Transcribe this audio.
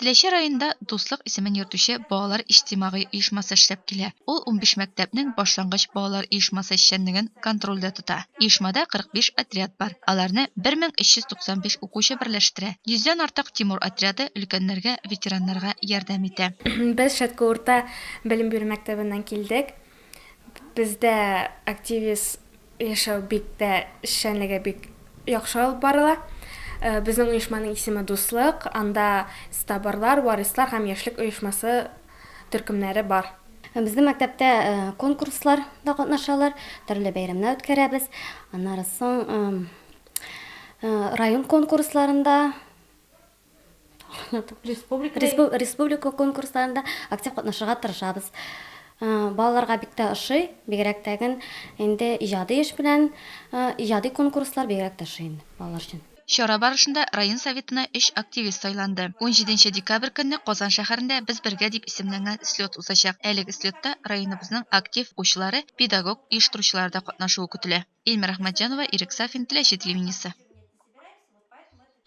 Теләче районында Дуслык исемен йөртүче балалар иҗтимагый оешмасы эшләп килә. Ул унбиш мәктәпнең башлангыч балалар оешмасы эшчәнлеген контрольдә тота. Оешмада 45 отряд бар, аларны 1395 укучы берләштерә. Йөздән артык Тимур отряды өлкәннәргә, ветераннарга ярдәм итә. Без Шәтке урта белем бирү мәктәбеннән килдек. Бездә активист яшәү бик тә эшчәнлеге бик яхшы алып барыла. Безнең оешманың исеме Дуслык, анда Стаборлар, Варислар һәм Яшьлек оешмасы төркемнәре бар. Безнең мәктәптә конкурслар да катнашалар, төрле бәйрәмнәр үткәрәбез. Аннары соң район конкурсларында Республика республика конкурсларында актив катнашырга тырышабыз. Балаларга бик тә ошый, бигрәк тә гел инде иҗади эш белән, иҗади конкурслар бигрәк тә ошый инде балалар өчен. Чара барышында район Советына өч активист сайланды. Унҗиде нче декабрь көнне Казан шәһәрендә Без бергә дип исемләнгән слет узачак. Әлеге слетта районыбызның актив укучылары, педагог, оештыручылары да катнашуы көтелә. Ильмира Әхмәтҗанова, Ирек Сафин, Теләче телевидениесе.